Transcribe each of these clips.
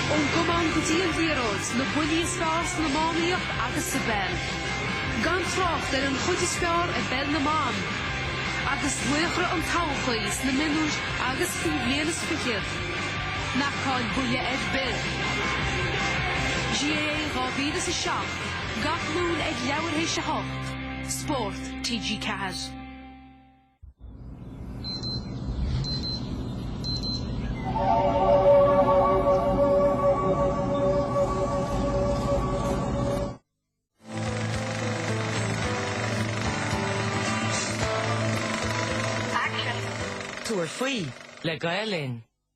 Ón gcamán go dtí an liathróid, na buillí is fearr san iománaíocht agus sa bpeil. Gan trácht ar an chuid is fearr i bpeil na mban. Agus laochra an todhchaí sna mionúir agus faoi bhliain is fichead. Ná caill buille ar bith! GAA 2007, Gach Luan ag leathuair tar éis a 8, Spórt, TG4. Tabhair faoi le Gael Linn.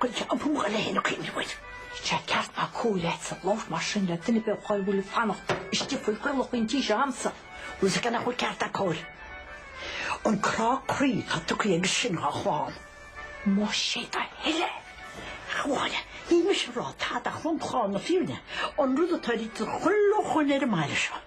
Gaeilge an bua le héinne cuimhneamh air. Níl sé ceart ná cóir leatsa labhairt mar sin le duine ar bith dhá bhfuil ag fanacht istigh faoi chaolach an tí seo a'msa. Bhfuil fhios agat nach bhfuil ceart ná cóir. An crá croí tá tugtha aige sin dhá chlann. Más é do thoil é! Ach abhaile, níl mise a rá tada ach lomchlár na fírinne, an rud atá rite do chuile dhuine ar an mbaile seo.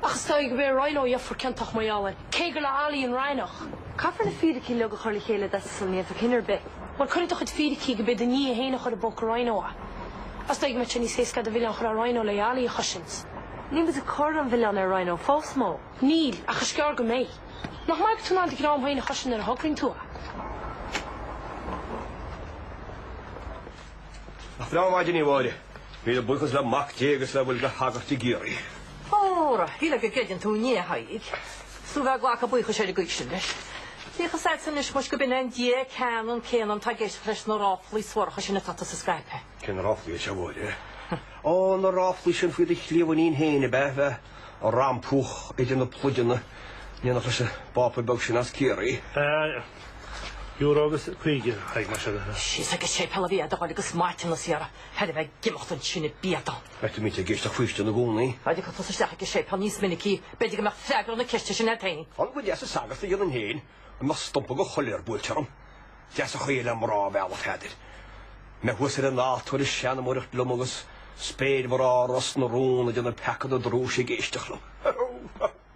Ach is dóigh go b'é Ryan-ó a gheofar ciontach mar gheall air, cé gur le Ali an Ryan-ach. Caithfear na fíricí uilig a chur le chéile d'fhonn go ndéanfar cinneadh ar bith. Mar cuirfidh do chuid fíricí go bith do ní é féin a chur i bpóca Ryan-ó. Is dóigh go mbeadh sé níos éasca an milleán a chur ar Ryan-ó le Ali a chosaint. Níl muid ag cur an mhilleán ar Ryan-ó fós, Mo. Níl, ach is gearr go mbeidh. Nach maith atá tú in ann do dhream féin a chosaint nuair a thograíonn tú é. Nach breá an mhaidin í, a Mháire. Míle buíochas le Mac Dé agus le bhfuil de shagairt i gCiarraí. Óra, shílfeá go gcreideann tú i nDia, a Thaidhg. Is tú ag glacadh buíochais ar an gcaoi sin leis. Bíodh fhios agatsa anois muis gurb in é an Dia ceannann céanna atá ag éisteacht leis na ráflaí suaracha sin atá tusa a scaipeadh. Cén ráflaí, a Mháire? Ó, na ráflaí sin faoi do chliamhainín féin, ab ea, a bheith á rampú idir na pluideanna, in éineacht leis an bPápa beag sin as Ciarraí. Euro agus caoga, a Thaidhg, más ea. Síos ag an séipéal a bhí air do thoil agus maidin na saoire, thar a bheith ag imeacht ansin i bpian dó. Beidhmid ag éisteacht faoistin i gcónaí. Dá dtiocfadh tusa isteach ag an séipéal níos minicí, b'fhéidir go mbeadh freagra na ceiste sin agat féin. M'anam gur deas an sagart a dhéanfainn féin dá mbeadh stumpa de choiléar buailte orm. Deas an chaoi le mná a mhealladh, a Pheadair. Mé thuas ar an altóir ag seanmóireacht liom agus spéirmhná Ros na Rún ag déanamh peaca na drúise ag éisteacht liom.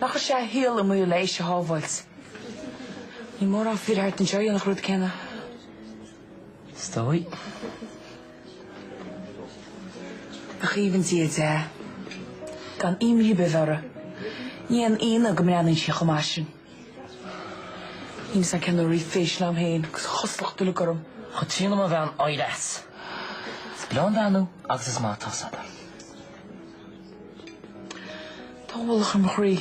Nár chuir sé a shaol i mbaol le Laoise a shábháilt? Níl mórán fir thart anseo a dhéanfadh an rud céanna. Is dóigh. Aoibhinn Dia di, gan imní ar bith uirthi, ní haon ionadh go mbreathnaíonn sí chomh maith sin. Ní mé san ceannairí fís liom féin agus cosúlacht uilig orm. Chomh trína mo bhean oighreas. Is breá an bhean thú agus is maith atá fhios agat. Tá ualach ar mo chroí.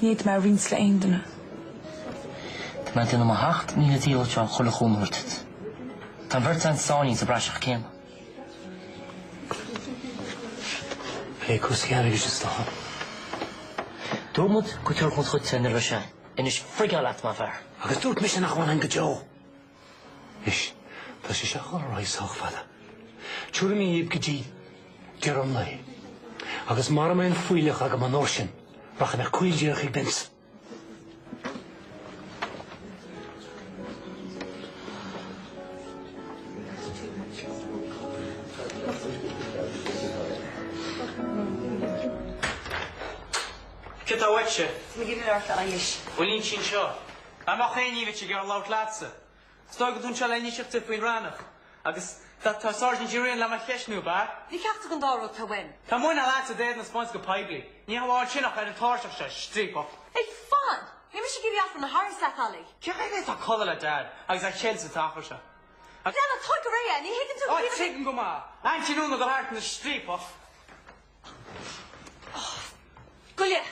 Ní fhéadfaidh mé a roinnt le aon duine. Tá mé ag déanamh mo sheacht míle díchill le chuile chúnamh a thabhairt duit. Tá an bheirt a'inn sáinnithe sa bpraiseach céanna. Ag plé cúrsaí airgid is dócha. Dúirt muid go dtiocfadh muid chuige nuair a bheadh sé a'inn. Anois, frigáil leat mar fhear. Agus dúirt mise nach bhfanfainn go deo. Anois, tá sé seachas a ndóthain, sách fada. Tiúrfaidh mé dhaoibh go dtí deireadh an lae, agus mara mbeidh an fuílleach agam an uair sin, rachaidh mé caol díreach ag Binns. Cad tá uaitse? M'iníon ar ais anois. Muinín sin seo. A Mhac Aodha ní bheidh sí ag iarraidh labhairt leatsa. Is dóigh go dtáinig tú le n-inseacht dom faoin Fhrancach, agus tá Sáirsint O'Riain le mo cheisniú, ab ea? Ní ceachtar den dá rud atá uaim. Cén muineál leatsa d'éadan a 'speáint go poiblí, ní hamháin sin ach ar an tairseach seo, striapach. Hé, fan! Níl mise ag iarraidh achrann a tharraingt leat, Ollie. Cé hé atá ag codladh le Dad agus á cheilt sa teach seo? Hé, tóg go réidh é, ní thuigeann tú go díreach. Ó, tuigim go maith. Aintín Úna go deas ina striapach. Gabh i leith.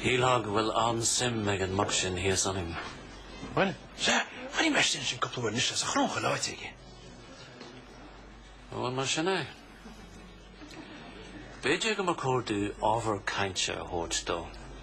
Shílfeá go bhfuil an-suim ag an mac sin thíos ionainn. Bhuel, sea, chonaic mé ansin é cúpla uair anois agus é ag breathnú aige. Bhuel, mar sin é. B'fhéidir go mba chóir dúinn ábhar cainte a thabhairt dó.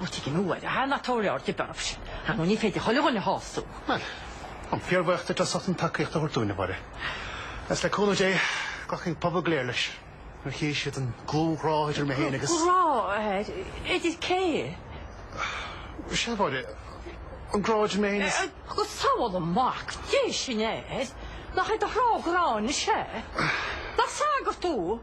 Ó, tuigim a Mháire, ná tabhair aird ar Barb sin. Ar ndó ní féidir chuile dhuine a shású. Bhuel, tá mé fíorbhuíoch duit as ucht an tacaíocht a thabhairt dúinn, a Mháire. Agus le cúnamh Dé, glacfaidh an pobal go léir leis, nuair a chífidh siad an dlúth-ghrá idir mé féin agus... Grá? Idir cé? Sea, a Mháire, an grá idir mé féin is... Go sabhála Mac Dé sinn air! Nach é do thráth gráin is ea? Nach sagart thú?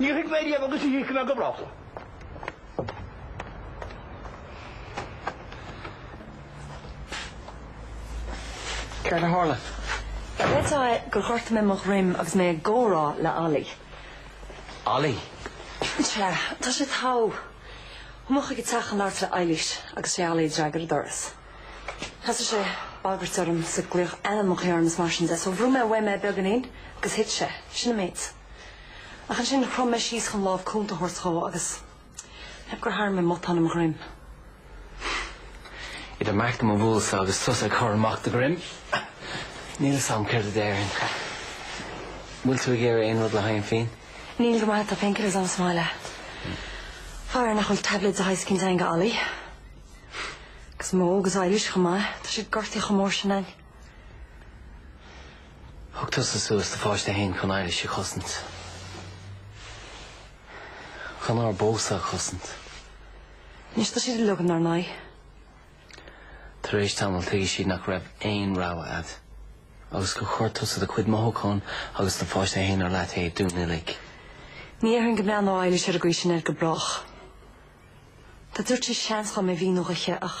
Níor thuig mé riamh agus ní thuigfidh mé go brách. Céard a tharla? Creidim gur ghortaigh mé mo dhroim agus mé ag comhrá le Ollie. Ollie? Sea, tá sé togha. Chuaigh mé chuig a teach chun labhairt le Eilís agus sé Ollie a d'fhreagair an doras. Thosaigh sé ag bagairt orm is ag glaoch ainmneacha orm is mar sin de so bhrúigh mé uaim é beagáinín agus thit sé. Sin an méid. Ach ansin, chrom mé síos chun lámh cúnta a thabhairt dhó agus ceapaim gur tharraing mé matán i mo dhroim. Idir mo mhac do do bhualadhsa agus tusa ag cur amach do dhroim, níl 'fhios a'm céard a déarfainn. An bhfuil tú ag iarraidh aon rud le haghaidh an phian? Níl, go raibh maith a'd, tá painkillers a'm sa mbaile. Faraor nach bhfuil tablets de shaghas eicínt a'inn do Ollie. Agus Mo agus Eilish chomh maith, tá siad gortaithe chomh mór sin a'inn. Thug tusa suas do pháiste fhéin chun Éilis a chosaint. Chun ár bpósadh a chosaint. Anois tá siad uilig in ár n-aghaidh. Tar éis tamaill tuigfidh siad nach raibh aon rogha agat agus gur chuir tusa do chuid mothúchán agus do pháiste fhéin ar leataobh dúinn uilig. Ní dhéarfainn go mbreathnódh Éilis ar an gcaoi sin air go brách. Dá dtabharfadh sí seans dhom é a mhíniú dhi ach.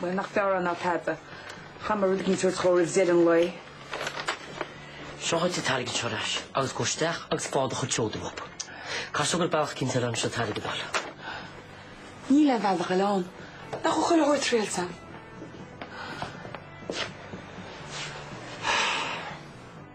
Bhuel, nach fearr é ná tada. Caithfidh mé rud éigin a thabhairt dhó roimh deireadh an lae. Seo duit an t-airgead seo ar ais agus gabh isteach agus faigh do chuid seoda uathu. Caithfidh sé go bhfuil bealach eicínt eile anseo an t-airgead a fháil. Níl aon bhealach eile ann. Nach bhfuil chuile shórt triailte agam?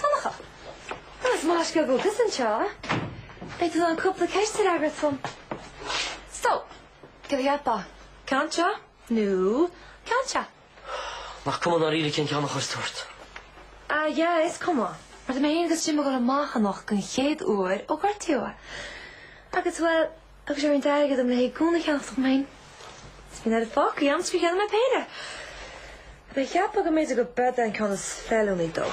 Donncha, Well is maith go go gus an seo. Beit tú an cúpla ceist ar agad fum. Sto, go bhí atá. Canta? Nú, canta? Nach cum an aríle cin ceanna chuir tuairt. A ja is cumá. Mar mé agus sin go amachchanach gon chéad uair ó gortíúa. Agus bhfuil Agus ar an airgead dom le haghaidh gúna a cheannacht dhom fhéin, bhí an oiread fágtha agam is gur cheannaigh mé péire. Bhí mé ag ceapadh go mb'fhéidir gurb eod é an ceann is feiliúnaí dó?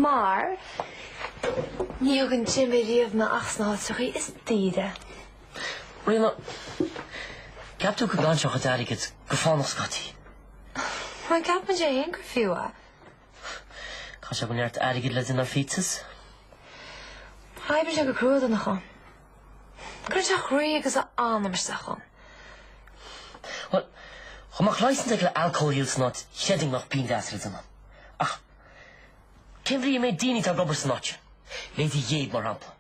Mar ní thugann Jimmy riamh mé ach sna háiteachaí is daoire. Rima, ceap tú go gcaitheann tú a chuid airgid go fánach scaití? Má cheapann sé fhéin gur fiú é. Chaith sé go neart airgid le dinneár phíotsus. Oibrigh sé go crua don chon. Cuireadh sé a chroí agus a anam isteach chun. Bhuel, chomh maith cloiseann sé go le alcohol use an áit chreidfinn nach bean deas le dinneán. Ach cén bhrí a mbeidh daoine atá ag obair san áit sin, Lady Gheib mar shampla,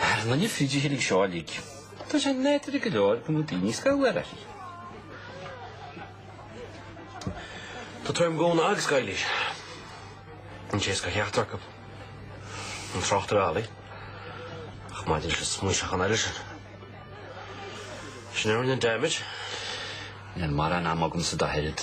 Ar na péidifiligh seo uilig, tá sé nádúrtha go leor go mbeadh daoine scanraithe. Tá tuairim dhomhanda ag scoileanna an té is gur cheachtar acu an trácht ar ealaí, ach maidir leis an smaoiseachán eile sin, sin a rinne an damage. Níl mórán ama agamsa dá leithéid.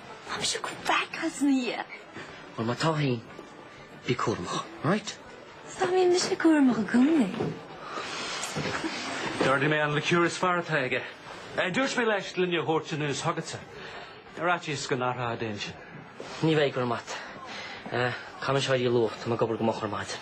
Táim seo go breac as mo dhiaidh. Bhuel, má tá fhéin, bí cúramach, right? Stop, bíonn mise cúramach i gcónaí. D'ordaigh mé an liqueur is fearr atá aige. Dúirt mé leis gloine a thabhairt anuas chugatsa. Ar fhaitíos go n-athrófá d'intinn. Ní bheidh, go raibh maith agat. Caithfidh mé seo a dhíol luath, tá mé ag obair go moch ar maidin.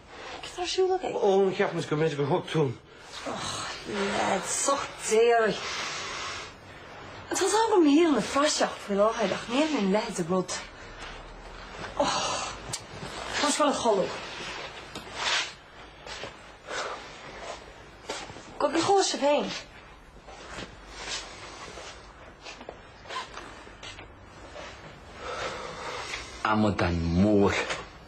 Céard tá ar siúl againn? Ó, cheap mise go mb'fhéidir gur thug tú an. Och, leid, soch déarfaidh. Tá tábhacht agam shaol ina phraiseach faoi láthair ach níl aon leithéid de rud. Och. Tá mise ag dul a chodladh. Go bhfios dhó sibh féin. Amadán mór.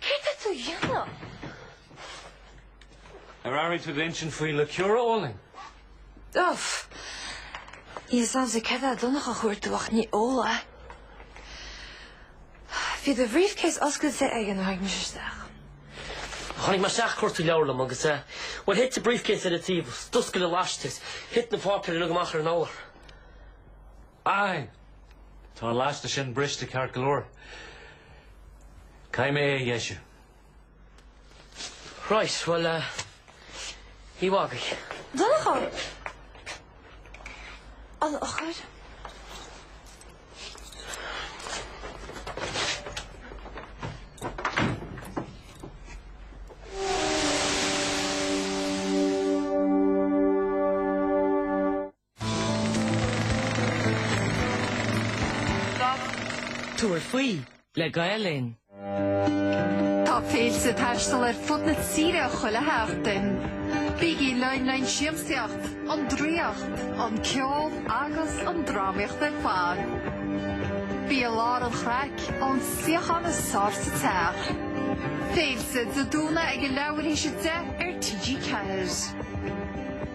Céard tá tú a dhéanamh? Ar airigh tú d'insint faoi le Ciara Olin? Uff. Níl fhios a'msa céard tá Donncha a chuartú ach ní eola. Bhí do bhrífcéas oscailte aige nuair a tháinig mise isteach. Tháinig mé isteach ag cuartú leabhar liom agus eh, bhuel thit an brífcéas den table, d'oscail an laiste, thit na páipéir uilig amach ar an urlár. Aye! Tá an laiste sin briste ceart go leor. Caithfidh mé é a dheisiú. Right, bhuel, oíche mhaith agaibh. Donnchadh! A Lochair! Tabhair faoi le Gael Linn. Tá Féilte ag taisteal ar fud na tíre chuile sheachtain. Bígí linn le'n siamsaíocht, an draíocht, an ceol agus an drámaíocht ar fad. Bí i lár an chraic ón suíochán is fearr sa teach. Féilte Dé Domhnaigh ag a leathuair théis a deich ar TG4.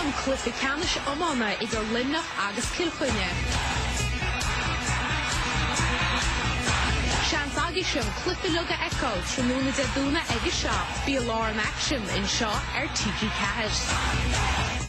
An cluiche ceannais iomána idir Luimneach agus Cill Chainnigh. Seans agaibhse an cluiche uilig a fheiceáil tráthnóna Dé Domhnaigh ag a seacht. Bí i lár an aicsin anseo ar TG4.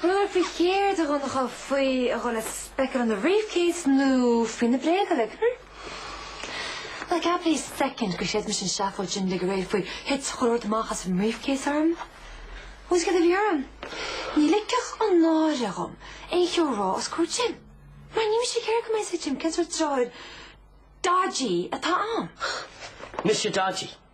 Bhuel, faoi chéard, a Dhonncha, faoi a dhul ag speiceáil ina bhriefcase nó faoi na bréaga uilig, hm? An gceapann tú soicind gur chreid mise an tseafóid sin uilig aréir faoi thit chuile shórt amach as an mbriefcase orm? Ó 's céard a bhí orm? Ní ligfeadh an náire dhom aon cheo a rá os comhair Jim. Mar níl mise ag iarraidh go mbeadh fhios ag Jim cén sórt deartháir dodgy atá a'm. Mise dodgy?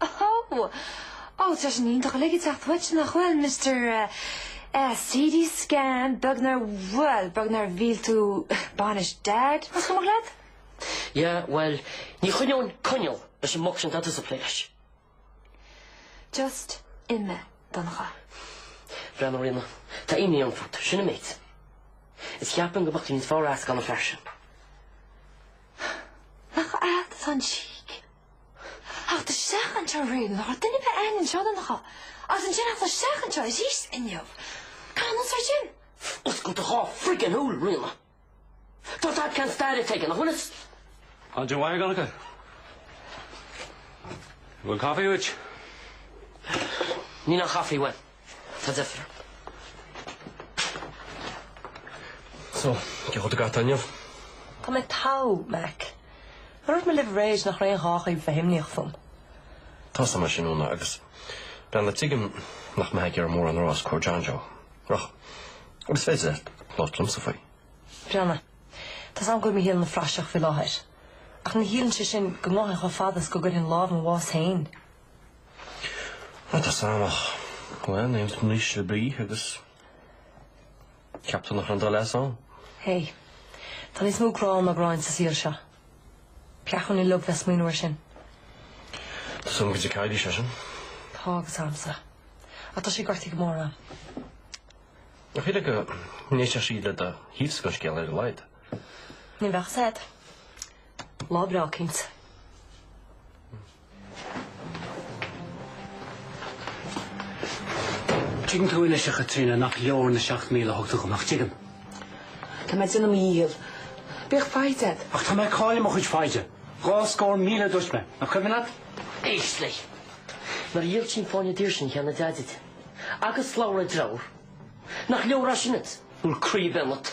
Ó! Ó, tá sin iontach uilig ag teacht uait, nach bhfuil, Mister CD Scam, beag nár, bhuel, beag nár mhill tú bainis Dad, más cuimhneach leat? Yeah, bhuel, ní choinneoinn coinneal leis an mboc sin atá tusa ag plé leis. Just imigh, a Dhonncha. Breathnaigh, a Ríona, tá imní orm fút, sin an méid. Is ceapaim go mbeadh tú níos fearr as gan an fear sin. Nach agat atá an cheek! Ach tá seach anseo riamh ná raibh duine ar bith ann anseo don dá, agus ansin ach tá seach anseo arís inniu. Cén nós é sin? Oscail do dhá friggin shúil, a Ríona. Tá tadhg ceann staire ait aige, nach bhfuil is? Andrew Mhaidhc ann acu. An bhfuil caife uait? Níl aon chaife uaim. Tá deifir. So, cén chaoi atá agat inniu? Tá mé togha, Mack. Nár dhúirt mé libh aréir nach raibh aon ghá dhaoibh bheith imníoch fúm. Tá a fhios agam é sin, a Úna, agus breathnaigh, tuigim nach mbeifeá ag iarraidh mórán a rá os comhair John Joe. Ach is féidir leat labhairt liomsa faoi. Breathnaigh, tá a fhios agam go bhfuil mo shaol ina phraiseach faoi láthair. Ach ní chiallaíonn sé sin go ngabhfainn chomh fada is go gcuirfinn lámh i mo bhás féin. Rud as an eanach. Bhuel, níl tú anois le breith agus ceap tú nach raibh an dul as ann? Hé, tá níos mó grá ná gráin sa saol seo. Peacúin i log bheith smaoineamh ar sin. Tá san go dtí caidí sé sin? Tá agus amsa. A tá sé gortaí go mór an. Nach hé go níos sé sí le a híos go scéal ar leid. Ní bheith said. Lá breá cinint. Tuigeann tú anois, a Chaitríona, nach leor na seacht míle a thug tú dhom, nach dtuigeann? Tá mé ag déanamh mo dhícheall. Bíodh foighid agat. Ach tá mé ag cailleadh mo chuid foighde. Dhá scór míle a dúirt mé, nach cuimhin leat? Éist léi. Nár dhíol sí an fáinne daor sin a cheannaigh Deaid di, agus slabhra a deirfiúr, nach leor é sin duit? An bhfuil croí ar bith ionat?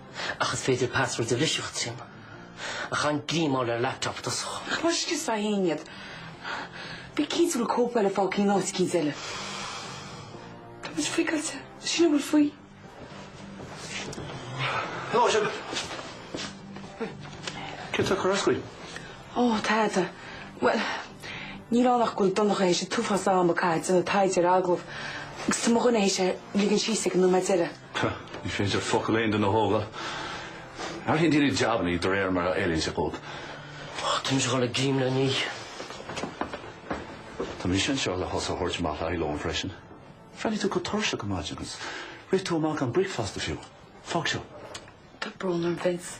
Ach is féidir password a bhriseadh trína a chan greim a fháil ar an laptop i dtosach. Ach mar sin is a théann iad. Bí cinnte go bhfuil cóip eile fágtha in áit éicint eile. Tá muid frigeáilte. Sin a bhfuil faoi. Hello, sibh. Céard tá ag cur as dhaoibh? Ó, tada. Bhuel, níl ann ach go bhfuil Donncha théis an t-uafás ama caite ag déanamh taighde ar agallamh agus tá mo dhuine théis a ligean síos ag an nóiméad deiridh. Pah, ní féidir focal aon duine a thógáil. Athraíonn daoine jabanna iad de réir mar a fheileann sé dhóibh. Táimse ag goil ag fáil greim le n-ithe. Tá mise anseo le thusa a thabhairt amach le haghaidh lón freisin. Bhreathnaigh tú go tuirseach ar maidin agus rith tú amach gan bricfeasta fiú. Fág seo. Tá brón orm, Vince.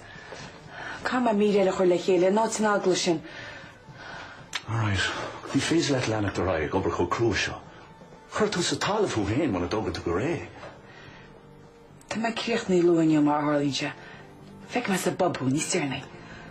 Caithfidh mé midil eile a chur le chéile, in ainneoin an eagla sin. All right. Ní féidir leat leanacht ar aghaidh ag obair chomh crua seo. Cuirfidh tú sa talamh thú féin mura dtóga tú go réidh. Tá mé ag críochnú luath inniu, mar a tharlaíonn sé. Feicfidh mé sa bpub thú níos deireanaí.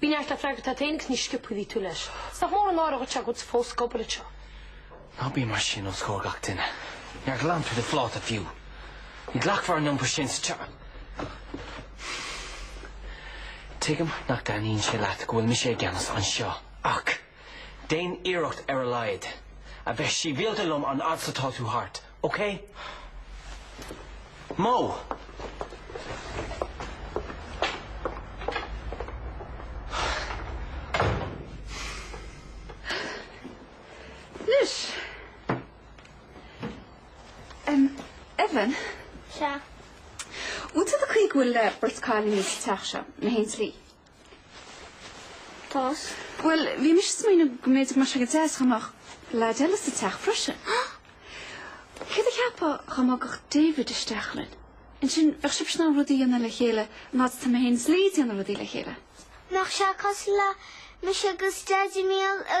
Bí neart le freagairt leat fhéin agus ní sciobfaidh tú leis. Is nach mór an náire a dhúirt sé a gcuid fós scobaire anseo. Ná bí mar sin os comhair gach duine. Níor ghlan tú do phláta fiú. Ní ghlacfar leis an iompar sin sa tSeapáin. Tuigim nach dtaitníonn sé leat go bhfuil mise i gceannas anseo, ach déan iarracht ar a laghad a bheith síbhialta liom an fhad is atá tú thart. OK. Mo. Anois, Evan. Sea? Bhfuil a fhios agat an chaoi go bhfuil beirt cailín sa teach seo, mé féin is Lee? Tá a fhios. Bhuel, bhí mise ag smaoineamh go mb'fhéidir go mbeadh sé go deas dá mbeadh leaid eile sa teach freisin. Céard a cheapfá dá mbogfadh David isteach linn? Ansin, bheadh sibhse in ann rudaí a dhéanamh le chéile mar atá mé féin is Lee ag déanamh rudaí le chéile. Nach bhfuil sé cosúil le mise agus Daidí Míol a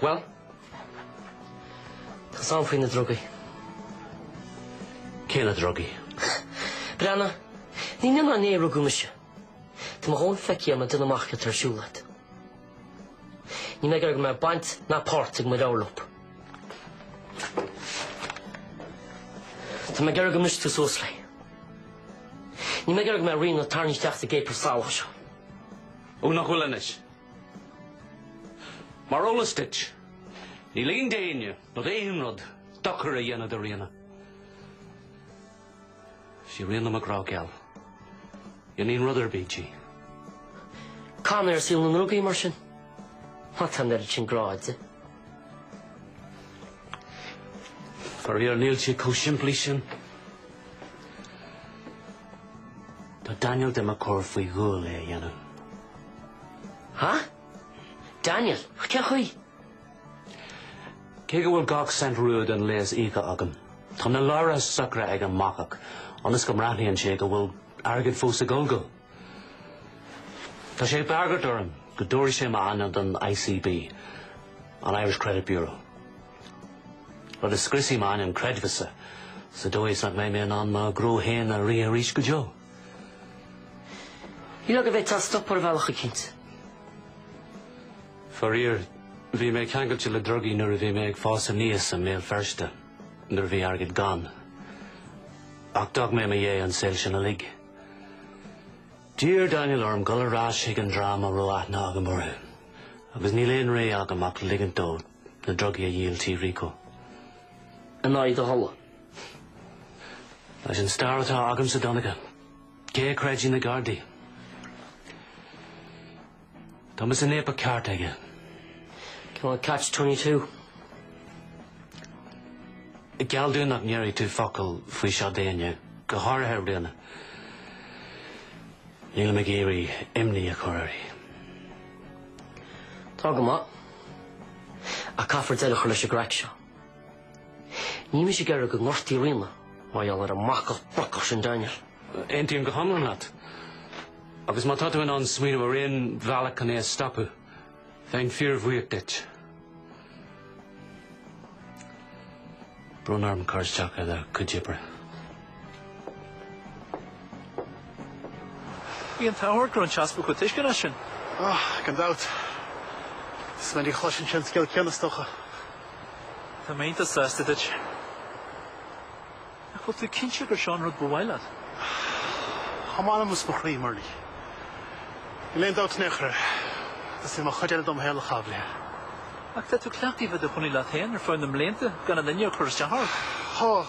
Bhuel, tá a fhios agam faoi na drugaí. Cé na drugaí? Breanna, ní inniu ná inné a rugadh mise. Tá mo dhóthain feicthe agam le déanamh amach céard atá ar siúl agat. Níl mé ag iarraidh go mbeadh baint ná páirt ag mo dheirfiúr leat. Tá mé ag iarraidh go mbrisfidh tú suas léi. Níl mé ag iarraidh go mbeidh Ríona tarraingthe isteach sa gcéipir salach seo. Ó, nach bhfuil anois! Mar eolas duit, ní ligfinn d'éinne nó d'aon rud dochar a dhéanamh do Ríona. Sí Ríona mo ghrá geal. Dhéanfainn rud ar bith di. Cén fáth saol na ndrugaí mar sin? Má tá an oiread sin grá agat di. Faraor níl sé chomh simplí sin. Tá Daniel do mo chur faoi bhrú é a dhéanamh. Ha? Daniel? Cé chaoi? Cé go bhfuil gach cent rua den léas íoctha agam, tá na leabhartha socraithe ag an mbacach ionas go mbreathnaíonn sé go bhfuil airgead fós ag gabháil dó. Tá sé ag bagairt orm go dtabharfaidh sé m'ainm don ICB, an Irish Credit Bureau. Rud a scriosfaidh m'ainm creidmheasa sa dóigh is nach mbeidh mé in ann mo ghnó féin a rith arís go deo. B'fhéidir go bhféadfá é a stopadh ar bhealach eicínt. Faraor, bhí mé ceangailte le drugaí nuair a bhí mé ag fás aníos i mBéal Feirste, nuair a bhí airgead gann. Ach d'fhág mé i mo dhiaidh an saol sin uilig. D'iarr Daniel orm dul ar ais chuig an dream a raibh aithne agam orthu, agus níl aon rogha agam ach ligint dó na drugaí a dhíol tigh Rico in aghaidh do thola. Leis an stair atá agamsa, Donncha, cé a chreidfidh na Gardaí? Tá mise in abar ceart aige. Cineál catch twenty two? Geall dom nach ndéarfaidh tú focal faoi seo d'éinne, go háirithe Ríona. Nílim ag iarraidh imní a chur uirthi. Tá go maith. Ach caithfear deireadh a chur leis an gcraic seo. Níl mise ag iarraidh go ngortófaí Ríona mar gheall ar an mbacach brocach sin Daniel. Aontaím go hiomlán leat. Agus má tá tú in ann smaoineamh ar aon bhealach chun é a stopadh, bheinn fíorbhuíoch duit. Brón orm cur isteach ar do chuid oibre. Bhí an t-ádh ort go raibh an tEaspag chomh tuisceanach sin. Ah, gan dabht. Is minic a chloiseann sé an scéal céanna, is dócha. Tá mé iontach sásta duit. Ach bhfuil tú cinnte gur seo an rud ba mhaith leat? Tá m'anam is mo chroí, Murlie. Níl aon dabht in aon chor air. Is é mo chuid eile dom shaol a chaitheamh léi. Ach tá tú cleachtaithe a bheith i do chónaí leat féin ar feadh na mblianta gan aon duine ag cur isteach ort. Tá.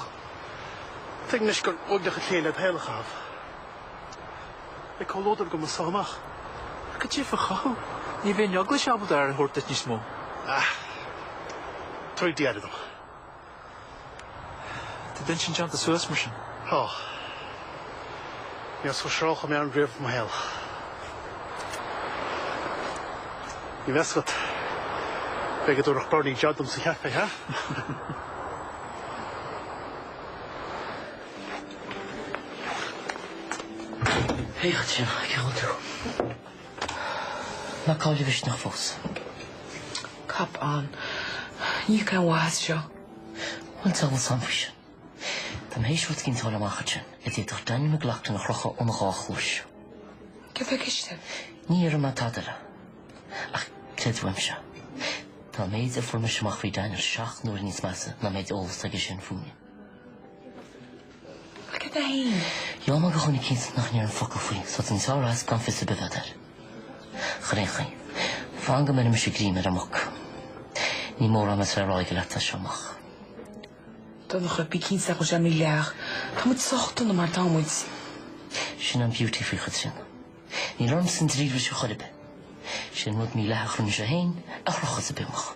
Tuigim anois gur uaigneach an scéal é do shaol a chaitheamh i gcomhluadar go measarthamach. Ach cad é a chothóidh thú? Ní bheidh an Eaglais ábalta aire a thabhairt duit níos mó. Ach tabharfaidh Dia aire dom. Tá d'intinn déanta suas mar sin. Tá. Níor shroich mé an riamh i mo shaol. Ní bheadh a fhios agat. B'fhéidir go dtabharfadh Berni jab dom sa chaifé, ha? Haigh ansin, cén chaoi a bhfuil tú? ná caill do mhisneach fós. Cop on. Ní thiocfaidh aon mhaith as seo. Bhuel, diabhal a fhios agam faoi sin. Tá mé th'éis rud éigin a fháil amach ansin a d'fhéadfadh Danny McLaughlin a chrochadh óna dhá chluais. Cé bheidh istigh? Ní déarfaidh mé tada eile. Ach creid uaimse, tá an méid a fuair mise amach faoi Daniel seacht n-uaire níos measa ná an méid eolais aige sin fúinn. Ach cad é fhéin? Gheall mé gur chónaigh cinnte nach ndeir an focal faoi, so den saor as gan fios ar bith agat air. Ar aon chaoi. Fan go mbeirimse greim ar an muc. Ní mórán a bheas le rá aige leat as seo amach. Donncha, bí cinnte nach bhfuil sé mídhleathach. Tá muid sách dona mar atá muid. Sin an beauty faoi a Chaitríona. Níl orm san dríomhris a chor ar bith. Sin rud mídhleathach a rinne sé fhéin, a chrochas a bimach.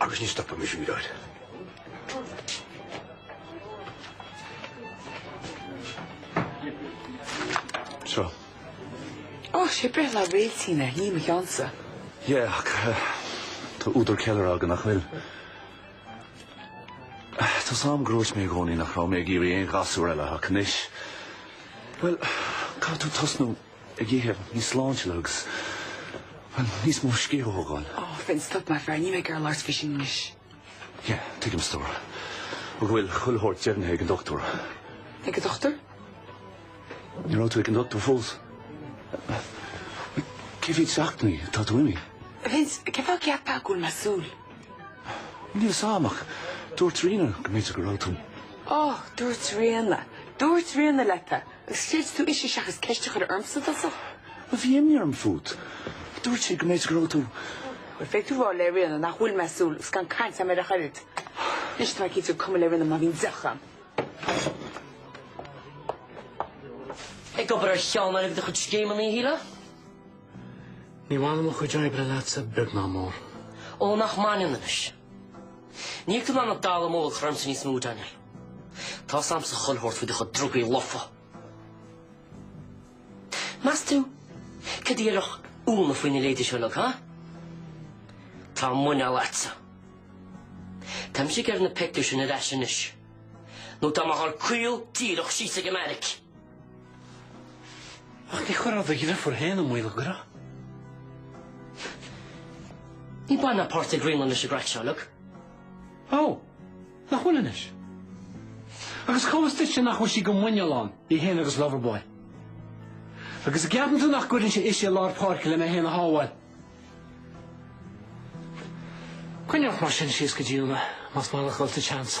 Agus ní stopaimis údáil. Seo. Oh, sé breithlá Réailtín é, ní mo cheannsa. Yeah, ach eh, tá údar ceiliúrtha againn, nach bhfuil? Eh, tá fhios a'm gur dhúirt mé i gcónaí nach raibh mé ag iarraidh aon ghasúr eile, ach anois, bhuel, caithfidh tú tosnú. ag ithe níos sláintiúla agus níos mó scíth a thógáil. Oh Vince, stop maith an fear, níl mé ag iarraidh labhairt faoi sin anois. Yeah, tuigim stór. Agus an bhfuil chuile shórt deimhnithe ag an dochtúr. Ag an dochtúr? Ní raibh tú ag an dochtúr fós. Cé mhéad seachtainí atá tú imithe? Vince, cé fáth a gceapfá go bhfuil mé ag súil? Níl fhios a'm ach dúirt Ríona go mb'fhéidir go raibh tú. Oh, dúirt Ríona. Dúirt Ríona leat é. Agus chreid tú ise seachas ceist a chur ormsa, i dtosach? Bhuel bhí imní orm fút. Dúirt sí go mb'fhéidir go raibh tú. Bhuel, féadfaidh tú a rá le Ríona nach bhfuil mé ag súil agus gan caint agam ar a choirid. Anois tá mé cinnte gur cuma le Ríona má bhíonn deoch a'm. Ag obair ar cheann de do chuid scéimeanna eile? Ní bhaineann mo chuid oibre leatsa beag ná mór. Ó, nach mbaineann anois? Níl tú in ann an dallamullóg a chur ormsa níos mó, Daniel. Tá fhios a'msa chuile shórt faoi do chuid drugaí lofa. Meas tú cad a dhéarfadh Úna faoi na leithéidí seo, Luke, ha? Tá muineál agatsa. Táimse ag iarraidh na pictiúir sin ar ais anois, nó tá mé ag gabháil caol díreach síos ag an mbeairic! Ach ní chuirfeá do dhriofúr féin i mbaol an gcuirfeá. Níl baint ná páirt ag Gráinne leis an gcraic seo, Luke. Ó, nach bhfuil anois? Agus cá bhfios duitse nach bhfuil sí go muineál ann, í fhéin agus Loverboy? Agus an gceapann tú nach gcuirfinnse ise i lár páirce le mé fhéin a shábháil? Coinnigh ort mar sin síos go dtí Úna, más maith leat a ghabháil sa tseans.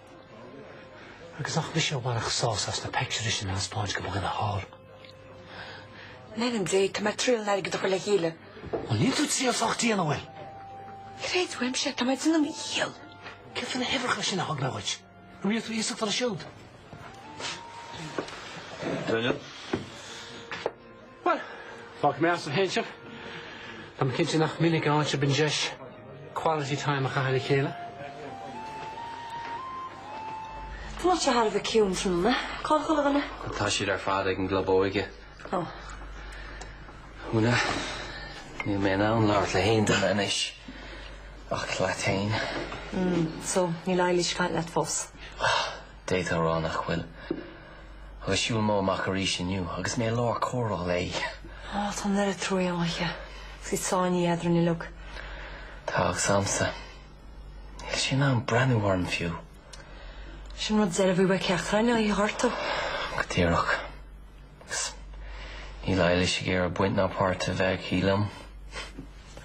Agus nach mise a bhainfeadh sásamh as na peictiúirí sin a thaispeáint do mhuintir na háite. In ainm Dé, tá mé ag triail an t-airgead a chur le chéile. Bhuel, níl tú ag triail sách dian, an bhfuil? Creid uaimse é, tá mé ag déanamh mo dhícheall. Céard faoi na huimhreacha sin a thug mé dhuit? An mbíodh tú iasachta leo siúd? Daniel. Bhuel, fágfaidh mé asaibh féin sibh. Táim cinnte nach minic a fhaigheann sibh an deis quality time a chaitheamh le chéile. Tá muid thar a bheith ciúin tráthnóna. Cá chuile dhuine? Tá siad ar fad ag an gclub óige. Ó. Úna, níl mé in ann labhairt le haon duine anois. Ach leat féin. Mm, so níl Eilis ag caint leat fós? D'fhéadfá a rá nach bhfuil. Agus shiúil Mo amach arís inniu agus mé i lár comhrá léi. Ó, tá an oiread trua a'm di. Agus í sáinnithe eadrainn uilig. Tá, agus a'msa. Níl sí in ann breathnú orm, fiú. Sin rud deiridh a bhí uait ceachtar againn a ghortú. Go díreach. Agus níl Eilis ag iarraidh baint ná páirt a bheith aici liom.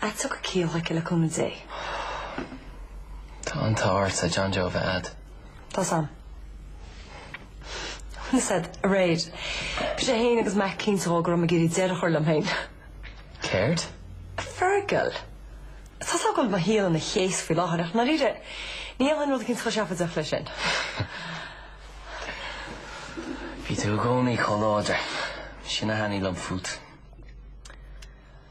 Ach tiocfaidh ciall aici le cúnamh Dé. Tá an t-ádh ortsa John Joe a bheith a'd. Tá a fhios a'm. A fhios a'd, aréir. Bhí sé fhéin agus Mack cinnte dhó go raibh mé ag iarraidh deireadh a chur liom fhéin. Céard? A Fergal. Tá a fhios a'm go bhfuil mo shaol ina chéas faoi láthair ach ndáiríre, ní dhéanfainn rud eicínt chomh seafóideach leis sin. Bhí tú i gcónaí chomh láidir. Sin a thaitnigh liom fút.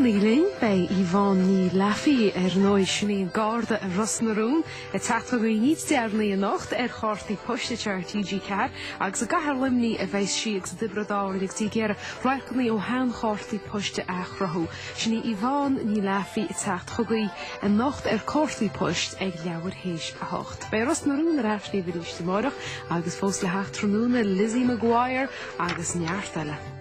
Fanaigí linn, beidh Yvonne Ní Laffey ar ndóigh sin í an Garda i Ros na Rún Ag teacht chugaibh níos deireanaí anocht ar Cártaí Poist ar TG4 agus i gcathair Luimnigh a bheas sí agus i dTiobraid Árann agus í ag iarraidh radharcanna ó sheanchártaí poist a athchruthú. Sin í Yvonne Ní Laffey ag teacht chugaibh anocht ar Cártaí Poist ag leathuair théis a hocht. Beidh Ros na Rún ar ais libh arís amárach agus fós le theacht tráthnóna, Lizzie McGuire agus neart eile.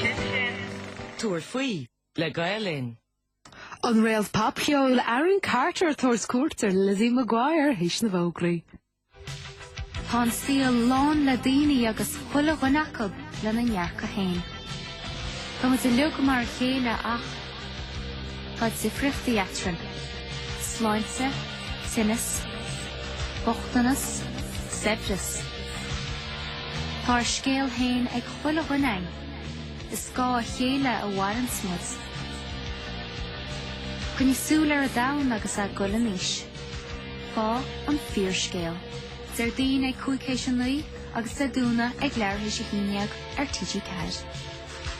Sin sin. Tabhair faoi, le Gael Linn. An réalt popcheoil, Aaron Carter ag tabhairt cuairt ar Lizzie McGuire, théis na bhfógraí. Tá an saol lán le daoine agus chuile dhuine acu lena ndearcadh féin. Tá muid uilig mar a chéile ach. Tá difríochtaí eadrainn. Sláinte, tinneas, bochtanas, saibhreas. Tá ár scéal féin ag chuile dhuine againn. Ar scáth a chéile a mhaireanns muid. Coinnigh súil ar an domhan agus é ag goil in aois. Faigh an fíorscéal. Déardaoin ag cúig théis a naoi agus Dé Domhnaigh ag leathuair théis a haon déag ar TG4.